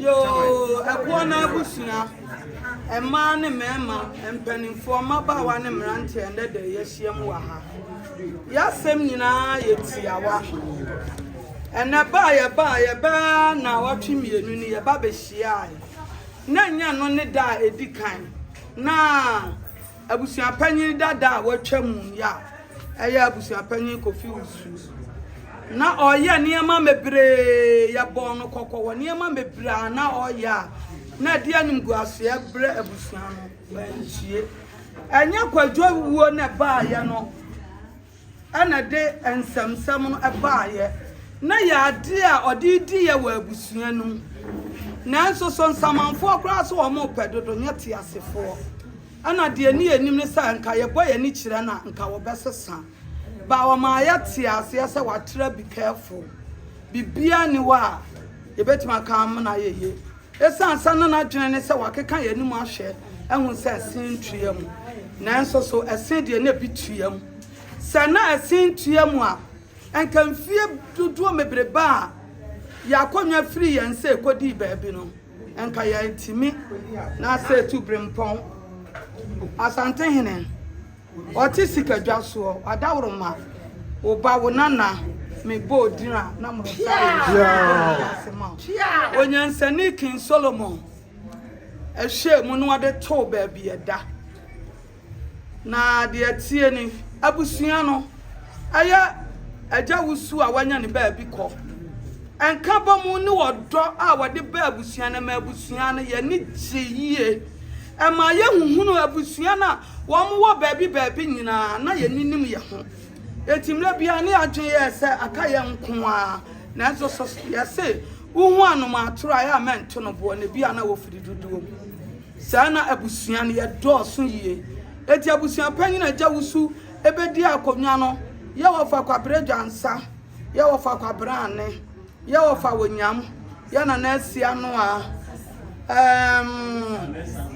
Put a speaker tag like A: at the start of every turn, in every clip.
A: yoo ɛboɔ no abusua mmaa ne mmarima mpanimfoɔ mmabaawa ne mmeranteɛ ɛnɛ dɛ yɛahyia mu wɔ ha yɛasɛm nyinaa yɛ tiawa Ɛnnɛ ba a yɛbae, yɛbɛyɛ ara nnawɔtwe mmienu ni, yɛba bɛhyiae, na ɛnyɛ ɛno ne da a ɛdi kan, na abusuapanyin dada a watwam yi a ɛyɛ Abusuapanyin Kofi Wusu. Na ɔreyɛ nneɛma bebree, yɛbɔɔ no kɔkɔ wɔ nneɛma bebree a na ɔreyɛ a na ɛde animguaseɛ brɛ abusua no, wantie. Ɛnyɛ Kwadwo wuo na ɛbaeɛ no. na ɛde nsɛmnsɛm no baeɛ, na ɛyɛ adeɛ a ɔde redi yɛ wɔ abusua no mu. Nanso so nsamanfoɔ koraa so wɔpɛ dodo nyɛ teasefoɔ? Ɛna deɛ ɛni anim ne sɛ anka yɛbɔ yɛn ani kyerɛ no a anka wɔbɛsesa. But wɔmaa yɛtee aseɛ sɛ wɔatra be careful. Biribiara nni hɔ a yɛbɛtumi aka amena ayɛ yie. Esiane sɛ na n'adwene ne sɛ wakeka yɛn anim ahwɛ ahu sɛ ɛsen ntu yɛn mu. Nanso so ɛsen deɛ na ebi tu yɛn mu? Sɛ na ɛsen tu yɛn mu a, anka mfeɛ dodoɔ bebrebe a yɛn akonnwa firii yɛn sɛ ɛkɔdii baabi no, anka yɛantumi. Na sɛ ɛtu birɛmpɔn Asantehene. Ɔte sikadwa soɔ, wadaworo ma wo ba, wo nana, me bɔɔ din a na mo nsa reyɛ. Onyansani King Solomon ɛhwɛɛ mu na ɔde too baabi ɛda. Na deɛ ɛteɛ ni, abusua no ɛyɛ agya wusu a wanya ne baabi kɔ. Ɛnka bɔ mu ne ɔdɔ a wɔde baa abusua no ɛmaa abusua no yɛn ani gyee yie. Ɛmaa yɛhuhunuu abusua no a Wɔwɔ baabi baabi nyinaa, na yɛnnim yɛn ho. Enti mmerɛ biara ne yɛadwene yɛɛ sɛ aka yɛn nko ara. Nanso sɛ yɛse wohu anomaatoro a, ɛyɛ a mɛnto no boɔ, na ebia na wɔfiri dodoɔ mu. Saa na abusua no yɛdɔɔso yie. Enti abusuapanyin a Agya Wusu bɛdii akonnwa no, yɛwɔ fa Kwabrɛ Dwansa, yɛwɔ fa Kwabrɛ Ane, yɛwɔ fa Onyam, yɛ Nana Asianoa, ɛɛm.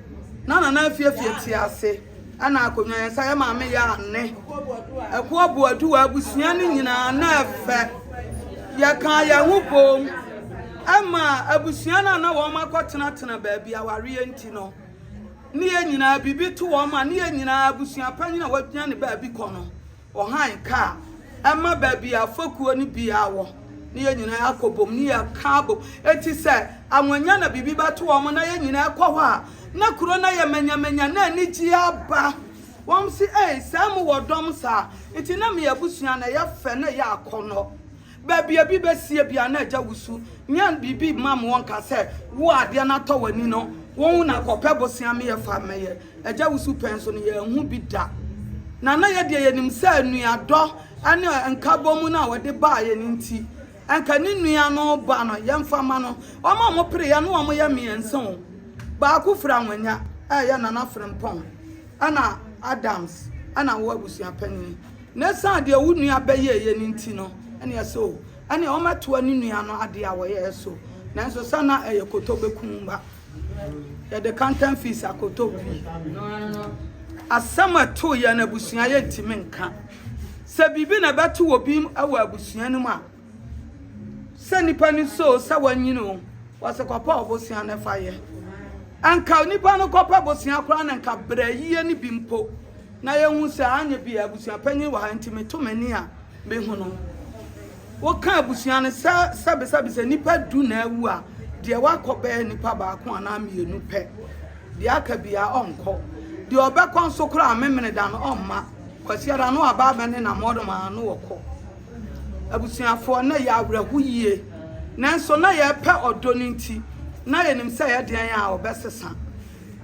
A: na Nana afiafia ti ase na akonnwa yɛ nsa yɛ maame yɛ ane ɛko aboadu wɔ abusua no nyinaa na ɛfɛ yɛkaa yɛn ho bom ɛma abusua no a na wɔn akɔtenatena baabi awareɛ nti no ne yɛn nyinaa biribi to wɔn a ne yɛn nyinaa abusua panyin a wɔagyina ne baabi kɔ no Ɔhan ka a ɛma baabi a fekuo no biara wɔ na yɛn nyinaa akɔ bom na yɛka abom. Enti sɛ anwɔnya na biribi bɛto wɔn na yɛn nyinaa kɔ hɔ a, na kuro no ayɛ manyamanya na anigyeɛ aba. Wɔn se, Ei, sɛɛ mo wɔ dɔm saa? Enti na me abusua no ɛyɛ fɛ na ɛyɛ akɔnnɔ. Baabi a bi bɛsie bia na agya wusu nyan biribi mma mo wɔnka sɛ wo a adeɛ no atɔ w'ani no wo wo na kɔpɛ bosea me yɛ fa mmɛyɛ agya wusu pɛn so no yɛanhu bi da na na yɛ deɛ yɛnim sɛ nuadɔ ne nkabɔmu no a wɔde baa yɛn nti anka ne nua no ba no yɛmfa ma no wɔn a wɔpere yɛ no wɔn yɛ mmiɛnsa o baako firi anwanya ɛyɛ nana frempɔn ɛna Adams ɛna wo abusua panyin Na ɛsiane deɛ wo nua bɛyɛeɛ no nti no, ɛnneɛ ɛsɛ o, ɛnneɛ wɔmmɛtoa ne nua no adeɛ a wɔyɛeɛ so. Nanso sɛ na ɛyɛ koto bɛku wo mma. Yɛde kantan fii sa koto pii. Asɛm a ɛtoo yɛn abusua yɛntumi nka. Sɛ biribi na ɛbɛto obi wɔ abusua no mu a, Sɛ nnipa no suro sɛ wɔanyin oo, wɔse kɔpɛ ɔbosea na fa yɛ. Anka nnipa no kɔpɛ bosea koraa na anka bra yie no bi mpo na yɛhu sɛ anyɛ bi a abusuapanyin wɔ ha nti meto m'ani a mehu no. Woka abusua no sɛ sɛbesɛbe sɛ nnipa du na awu a, deɛ wakɔ bɛyɛ nnipa baako anaa mmienu pɛ. Deɛ aka biara ɔnkɔ. Deɛ ɔbɛkɔ nso koraa Memeneda no ɔmma. Kwasiada no aba abɛne na mmɔdomaa no ɔkɔ. Abusuafoɔ, na yɛyɛ awerɛho yie, nanso na yɛpɛ ɔdɔ no nti, na yɛnim sɛ ɛyɛ deɛn a ɔbɛsesa.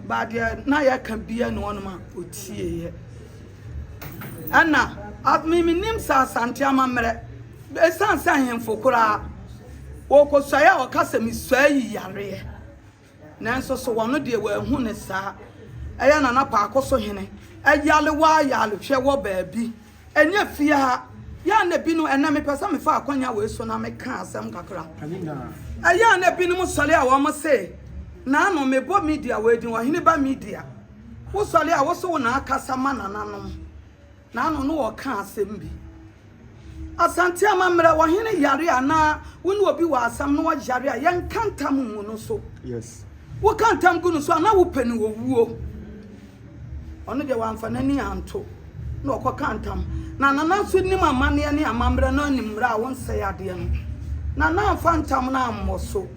A: But deɛ na yɛka biara ne wɔnom a ɔtieeɛ. Ɛna me menim sɛ Asante amammerɛ, ɛsiane sɛ ahemfo koraa wɔkɔsuaeɛ a wɔka sɛ mesuae yi yareɛ. Nanso so wɔno deɛ wɔahu no saa? Ɛyɛ na na paako so hene yale waa yale hwɛ wɔ baabi. Ɛnyɛ fie ha. Yɛ a na binom, ɛnnɛ mepɛ sɛ mefa akwanya wei so na meka asɛm kakra. Ɛyɛ a na binom sɔre a wɔn se, Naano, mebɔ media wei din, Ɔheneba Media. Wosɔre a wo se wo na akasa ma nananom. N'ano no ɔka asɛm bi. Asante amammerɛ wɔ hene yare a anaa wo ne obi wɔ asɛm na ɔyare a yɛnka ntam ngu no so. Yes.
B: Woka ntam gu
A: no so a na wopɛ no owuo. Ɔno deɛ wamfa n'ani anto na ɔkɔka ntam. Na Nana nso nim amanneɛ ne amammerɛ na ɔnim mmerɛ a wonsɛe adeɛ no. Nana amfa ntam no ammɔ so.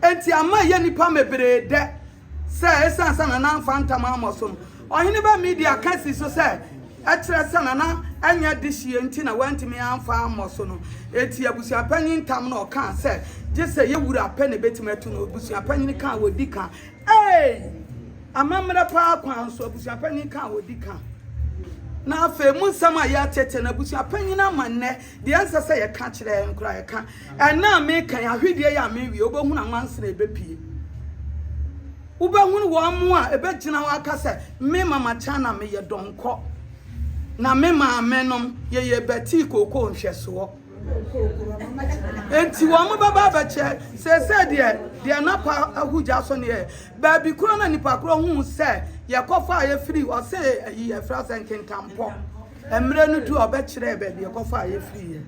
A: Enti ama ɛyɛ nnipa mebree dɛ. sɛ esiane sɛ na n'amfa ntam ammɔ so no, ɔhene baa Media ka sii so sɛ ɛkyerɛ sɛ na na ɛnyɛ dehyeɛ nti na wantumi amfa ammɔ so no. Enti abusuapanyin ntam na ɔkaa sɛ gye sɛ yɛn wura pɛ na ɛbɛtumi atu no. Abusuapanyin ka a ɔdi ka. Ee! Amammerɛ paa kwan so, abusuapanyin ka a ɔdi ka. Na afei mu nsɛm a yɛateɛteɛ no, abusuapanyin ama nnɛ Deɛ ɛnsɛ sɛ yɛka kyerɛ yɛn koraa yɛka. Ɛnnɛ a meka yi, ahwedeɛ yi a merewie, wobɛhunu anwansere a ɛbɛpue. Wobɛhunu wɔn a ɛbɛgyina hɔ aka sɛ, me Mama Chana meyɛ dɔnkɔ, na me maamenom yɛyɛ Betty Kookoo nhwɛsoɔ. Enti wɔn bɛba abɛkyɛ seesei deɛ deɛ napa ahu gya so neɛ baabi korɔ na nipa korɔ hu sɛ yɛkɔfa a yɛfiri ɔse ayi yɛfrɛ sɛ nkenkampɔ. Mmerɛ no duu a ɔbɛkyerɛɛ baabi ɛkɔfɔ a yɛfiriiɛ.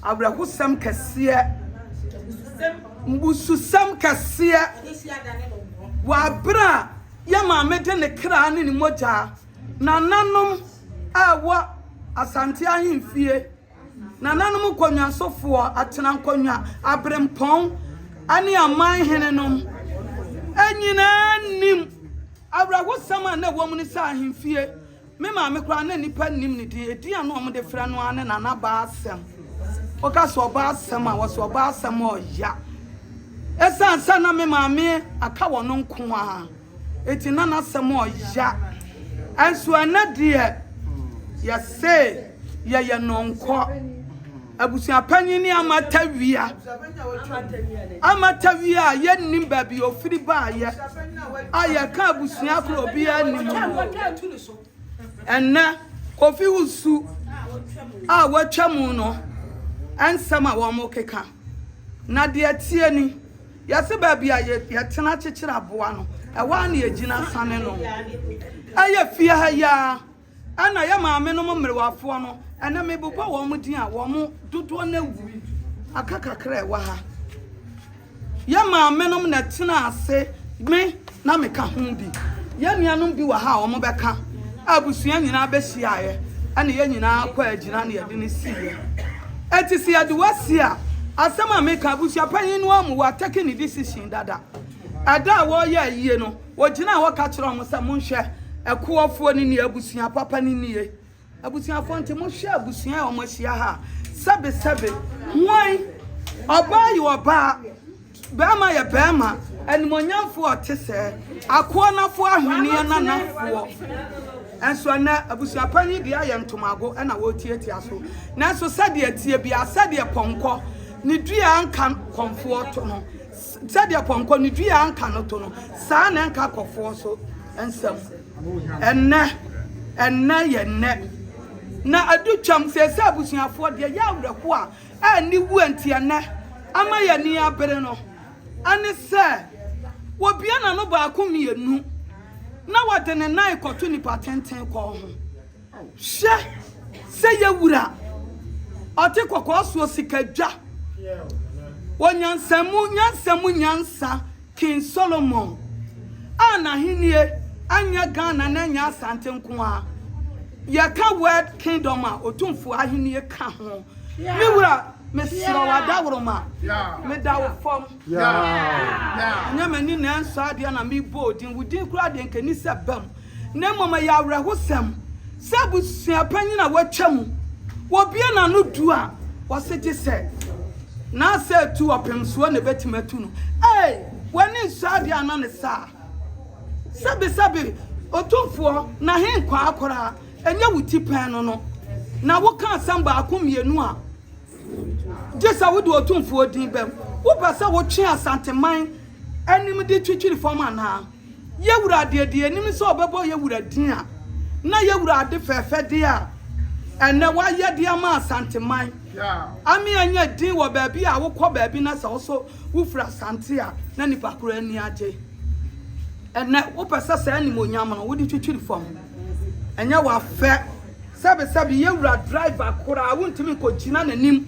A: Awerɛhosɛm kɛseɛ, mmususɛm kɛseɛ, wɔ aberɛ a yɛn maame de ne kraa ne ne mogyaa, nananom a ɛwɔ Asante ahemfie, nananom nkɔnwansofoɔ, atenankɔnwa, aberempɔn ne aman henenom nyinaa nim awerɛhosɛm a na ɛwɔ mu ne sɛ ahemfie. Me maame koraa na nnipa nnim ne din. Edin a na wɔde frɛ no ara ne Nana Baasɛm. Woka sɛ Ɔbaasɛm a, wɔsɛ Ɔbaasɛm a ɔya. Esiane sɛ na me maame aka wɔ no nko ara nti na n'asɛm ɔya. Nso ɛnnɛ deɛ yɛse yɛyɛ nɔnkɔ. Abusua panyin ne amatawia. Amatawia a yɛnnim baabi ofiri baayɛ a yɛka abusua koro obiara nnim no. Ɛnnɛ, Kofi Wusu a watwa mu no nsɛm a wɔkeka. Na deɛ ɛteɛ ni, yɛse baabi a yɛtena kyekyere aboa no, ɛhɔ ara na yɛgyina sane no. Ɛyɛ fie ha yi ara. Ɛna yɛ maamenom mmerewafoɔ no, ɛnɛ mebobɔ wɔn din a, wɔn dodoɔ no awu. Aka kakra a ɛwɔ ha. Yɛ maamenom na ɛtena ase, me na meka ho bi. Yɛ nuanom bi wɔ ha a wɔn bɛka, a abusua nyinaa bɛhyiaeɛ, ɛna yɛ nyinaa kɔ agyina na yɛde no siiɛ. Ɛti sɛ yɛde wasi a, asɛm a meka, abusuapanyin no amu, watake ne decision dada. Ɛda a wɔreyɛ ayie no, Wɔgyinaa hɔ ka kyerɛɛ wɔn sɛ, Monhwɛ, ɛkoɔfoɔ no nie, abusua papa no nie. Abusuafoɔ nti, mohwɛ abusua a wɔahyia ha a, sɛbesɛbe, hwan, ɔbaa yɛ ɔbaa, barima yɛ barima, animuonyamfoɔ a ɔte sɛɛ, akoa no afoɔ ahweneɛ na n'afoɔ. Nanso ɛnnɛ, abusua pa yi deɛ ayɛ ntomago na wɔretiatia so. Nanso sɛdeɛ ɛteɛ biara, sɛdeɛ pɔnkɔ ne dua a anka kɔmfoɔ to no, Sɛdeɛ pɔnkɔ ne dua a anka no to no, saa ara na ɛnka akɔfoɔ nso nsam. Ɛnnɛ, ɛnnɛ yɛ nnɛ. Na adu twam sɛ, sɛ abusuafoɔ deɛ ɛyɛ awerɛhoɔ a ɛnni wuo nti ɛnnɛ ama yɛn ani abere no ɛne sɛ, wɔbue n'ano baako mmienu na wɔde ne nan rekɔto nnipa tenten kɔn ho. Hwɛ sɛ yɛ Wura ɔte kɔkɔɔ soɔ sika dwa wɔ nyansa mu nyansa mu nyansa King Solomon a n'ahennie anyɛ Ghana na ɛnyɛ Asante nko ara yɛ ka world kingdom a Otumfoɔ ahennie ka ho me Wura me serɛ wo Adaworoma me da wo fam. Ɛnyɛ m'ani na ɛnsɔ adeɛ na mebɔ wo din, wo din koraa deɛ nka ɛni sɛ ba mu. Na mmom ɛyɛ awerɛhosɛm sɛ abusuapanyin a watwa mu, wɔbue n'ano du a, wɔse gye sɛ n'asɛ atu ɔpem soɔ na ɛbɛtumi atu no. Ei! W'ani nsɔ adeɛ anaa ne saa? Sɛbesɛbe Otumfoɔ, na he nkwaa koraa? Ɛnyɛ wo ti pɛn no no na woka asɛm baako mmienu a Gye sɛ wode Otumfoɔ din bam. Wopɛ sɛ wotwe Asanteman anim de twitwiri fam anaa? Yɛ wura deɛ, deɛ yɛnim sɛ ɔbɛbɔ yɛ wura din a, na yɛ wura ade fɛɛfɛdeɛ a ɛnnɛ wayɛ de ama Asanteman. Ame anya din wɔ baabi a wokɔ baabi na sɛ wo nso wofiri Asante a, na nnipa korɔ ani agye. Ɛnnɛ, wopɛ sɛ saa animuonyam no, wode twitwiri fam. Ɛnyɛ wa fɛ. Sɛbi sɛbi yɛwura driver koraa wontumi nkɔgyina n'anim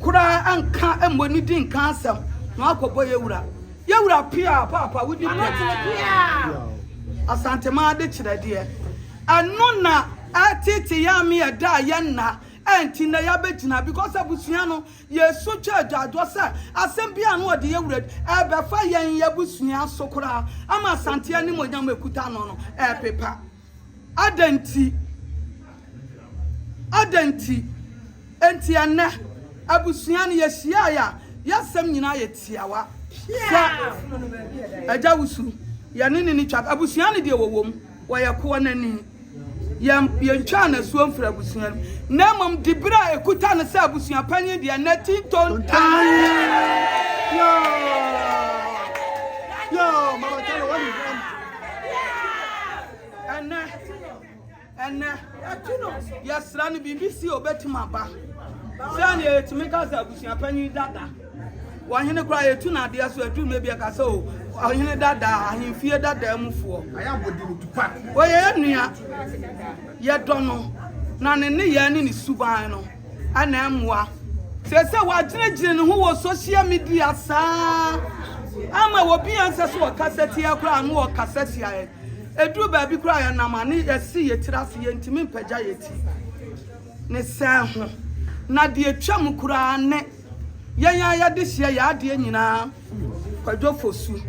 A: koraa nka mmɔ ne din nka asɛm na wakɔbɔ yɛwura. Yɛwura piaa paapa wodi pɛ. Asantemaa de kyerɛ deɛ. Ɛno na ɛtete yɛn ame ɛda a yɛnna ɛnti nnɛ yɛabɛgyina because abusua no Yesu twa agyaadwoɔ sɛ asɛm biara a ano ɔde yɛ wura bi rebɛfa yɛn abusua so koraa ama Asante animuonyam a ɛkuta no no repepa. Adɛn nti? Adɛn nti? Enti ɛnnɛ, abusua no, yɛhyiaeɛ a, yɛn asɛm nyinaa yɛ tiawa. Sɛ Agya Wusu, yɛne no nni twaka. Abusua no deɛ wɔwom. Wɔyɛ koɔ no ani. Yɛn, yɛntwaa no asuo mfiri abusua no mu, na mmom diberɛ a ɛkuta no sɛ abusua panyin deɛ na ɛti ntontan. Ɛnnɛ, ɛnnɛ, yɛsrɛ no biribi si a ɔbɛtumi aba. Sɛdeɛ yɛtumi ka sɛ abusua panyin dada. Ɔhene koraa yɛtu no adeɛ so aduru no bia ka sɛ o ɔhene dadaa ahemfie dadaa mu foɔ. Ɔyɛ yɛ nua yɛdɔ no na ne nneyɛɛ ne ne suban no ɛna ɛmmoa. Seesei wagyinagyina ne ho wɔ social media saa ama obi a ɛnsɛ sɛ ɔkasa tia koraa no ɔkasa tia yɛn. Ɛduru baabi koraa yɛnam a ne yɛsi yɛ tiri ase yɛntumi mpagya yɛ ti ne sɛn ho na deɛ ɛtwam koraa ne. Yɛn a yɛde hyɛ yɛn adeɛ nyinaa Kwadwo Fosu.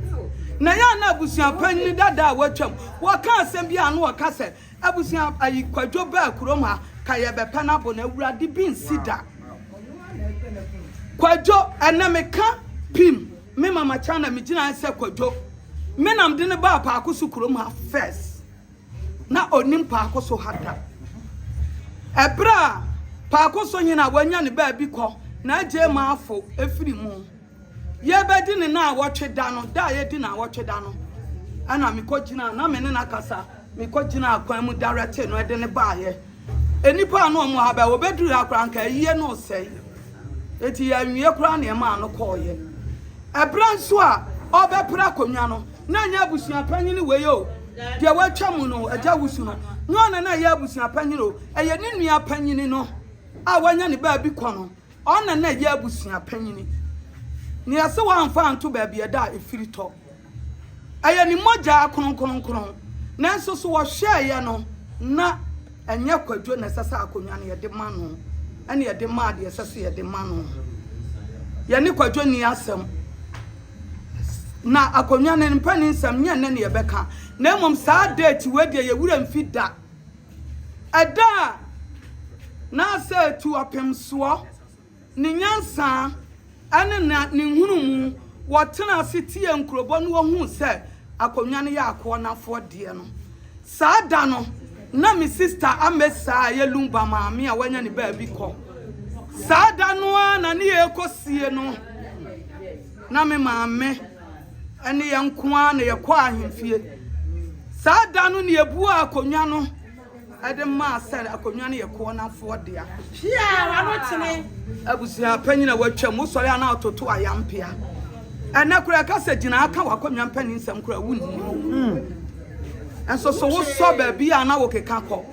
A: Na yɛn a na abusua panyin dada a watwam, wɔka asɛm bi a na ɔka sɛ, abusua ayi Kwadwo baa kurom ha ka yɛbɛpɛ no abɔ no, Awurade bi nsi da. Kwadwo, ɛnnɛ meka pim me mama China megyina ha sɛ Kwadwo, me na mede no baa Paako so kurom ha first. na onim Paakoso ha da. Ɛberɛ a Paakoso nyini a wanya ne baabi kɔ na agye Maafo afiri mu. Yɛrebɛdi ne naawɔtwe da no, da a yɛdi naawɔtwe da no, ɛna mekɔgyinaa, na me ne no akasa, mekɔgyinaa kwan mu dawɛtee no de no baeɛ. Nnipa a na wɔwɔ ha bɛn? Wɔbɛduruu ha koraa, anka ayie no resɛe. Enti yɛanwie koraa na ɛmaa no kɔeɛ. Ɛberɛ nso a ɔrebɛpere akonnwa no, na ɛnyɛ abusuapanyini wei o, deɛ watwa mu no, Agya Wusu no, nyɛ ɔno na ɛyɛ abusuapanyini o, ɛyɛ ne nua panyini no a wanya ne baabi kɔ no, ɔno na na ɛyɛ abusuapanyini. Nea ɛse wɔamfa anto baabi a ɛda a ɛfiri tɔ. Ɛyɛ ne mogya kronkronkron. Nanso so wɔhwɛeɛ no, na ɛnyɛ Kwadwo na ɛsɛ sɛ akonnwa no yɛde ma no, ɛna yɛde maa deɛ ɛsɛ sɛ yɛde ma no. Yɛne Kwadwo nni asɛm. Na akonnwa no mpɛ ne nsɛm, nyɛ nnɛ na yɛbɛka. Na mmom saa date wei deɛ yɛn werɛ mfi da. Ɛda a na asɛ atu ɔpemsoɔ. Ne nyansa ne ne ne nhunumu, wɔtenaa ase tiee nkurobɔ na wɔhuu sɛ akonnwa no yɛ akoa no afɔdeɛ no. Saa da no, na me sista Amesa a ɛyɛ Lumba maame a wanya ne baabi kɔ. Saa da no ara na ne yɛrekɔ sie no, na me maame ne yɛn nko ara na yɛkɔɔ ahemfie. Saa da no na yɛbuaa akonnwa no. de maa sɛ akonnwa no yɛ Koonanfoɔ dea. Abusua panyin a watwam, wosɔre a na wototo ayampea. Ɛnɛ koraa ɛka sɛ gyina ha ka w'akonnwa mpanyin nsɛm koraa wonni mu. Hmm. Ɛnso so wosɔ baabi a na wokeka kɔ.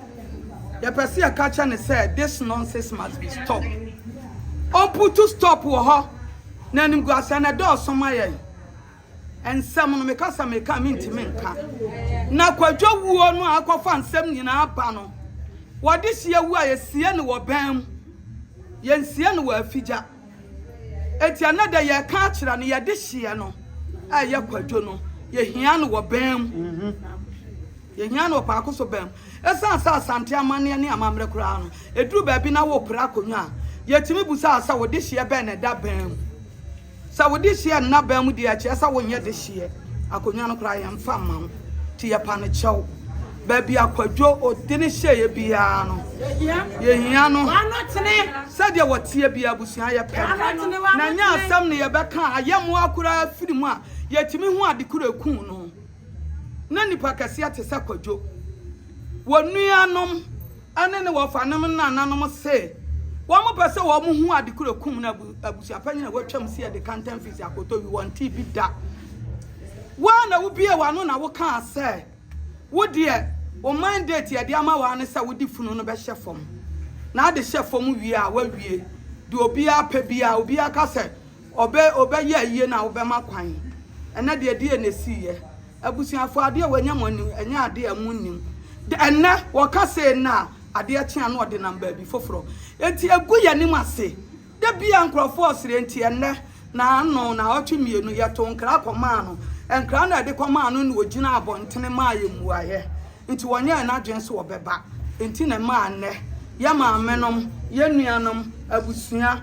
A: Yɛpɛ sɛ yɛka kyɛ ne sɛ this nonsense must be stop. Ɔmputu stop wɔ hɔ na animguaseɛ na ɛdɔɔso ma yɛn. Nsɛm no meka sɛ meka a mentumi nka. Na Kwadwo wuo no a akɔfa nsɛm nyinaa ba no, wɔde hyeɛ wu a yɛsie no wɔ bɛn mu? Yɛnsie no wɔ afigya. Enti ɛnɛ dɛ yɛreka akyerɛ no yɛde hyeɛ no a ɛyɛ Kwadwo no, yɛhia no wɔ bɛn mu? Yɛhia no wɔ paako so bɛn mu? Ɛsiane sɛ Asante amanneɛ ne amammerɛ koraa no, ɛduru baabi na wopere akonnwa a, yɛtumi bu saa sɛ wode hyeɛ bɛn na ɛda bɛn mu? Sɛ wo dehyeɛ nna bɛn mu deɛ ɛkyerɛ sɛ wonyɛ dehyeɛ. Akonnwa no koraa yɛmfa mma wo nti yɛpa no kyɛw. Baabi a Kwadwo Odene hyeeɛ biara no yɛhia no sɛdeɛ wɔteɛ biara abusua yɛpɛ no. Na ɛnyɛ asɛm na yɛbɛka a ayɛmmoa koraa firi mu a yɛtumi hu ade koro a ɛkuu no. Na nnipa kɛseɛ te sɛ Kwadwo wɔ nuanom. ne ne wɔfanom nananom se wɔpɛ sɛ wɔhu ade koro kum no abusuapanyin a watwam si de ka ntam fii sɛ akɔtɔ wi wɔntee bi da. Woa na wobie w'ano na wokaa sɛ wo deɛ wo mandate a yɛde ama woa ne sɛ wode funu no bɛhyɛ fam. Na ade hyɛ fam wie a, woawie. Deɛ obiara pɛ biara, obiara ka sɛ Ɔbɛ ɔbɛyɛ ayie no a wobɛma kwan. Ɛnɛ deɛ ɛdeɛ na ɛsiiɛ. Abusuafoɔ adeɛ a wanya mo anim ɛnyɛ adeɛ a mo nnim. Dɛ ɛnɛ wɔka sei nnɛ a adeɛ kye a na ɔde nam baabi foforɔ. Enti ɛgu yɛn anim ase. Da biara nkorɔfoɔ resere enti ɛnɛ naano naawɔtwe mmienu yɛtoo nkra kɔmaa no. Nkra no a yɛde kɔmaa no na ɔgyinaa abɔntene maa yɛn mmuaeɛ. Enti wɔnyɛɛ n'adwene sɛ ɔbɛba. Enti na ɛmaa nnɛ yɛn maamenom, yɛn nuanom, abusua,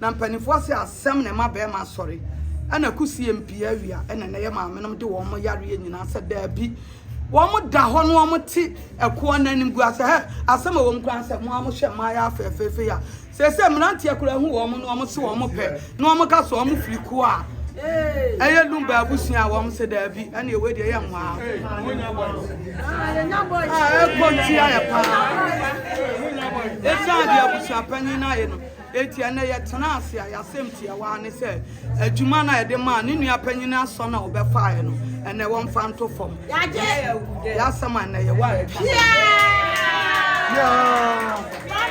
A: Na mpaninfoɔ se asem na ɛma barima asɔre ɛna ɛko sie mpia awia ɛna ɛnɛ yɛ maame nom de wɔn yareɛ nyinaa sɛ daabi wɔn da hɔ no wɔn te ɛkoɔ no anim gua sɛ hɛ asem ɛwɔ mu koraa sɛ mo a mo hwɛ mmaa yɛ afɛɛfɛɛfɛ ya seesei mmeranteɛ koraa hu wɔn no wɔn se wɔn pɛ na wɔn ka sɛ wɔn firi kuo a ɛyɛ lumba abusua a wɔn se daabi ɛna ɛwɔ deɛ yɛ nwaa a ɛkɔ ntia yɛ paa ɛsiane deɛ abusua panyin no ayɛ no Enti ɛnnɛ yɛtenaa ase a, yɛn asɛm tiawa ara ne sɛ, adwuma no a yɛde maa ne nua panyin asɔ no a ɔbɛfaeɛ no, ɛnnɛ wɔmfa nto fam. Yɛn asɛm a ɛnnɛ yɛwɔ a yɛtwa so.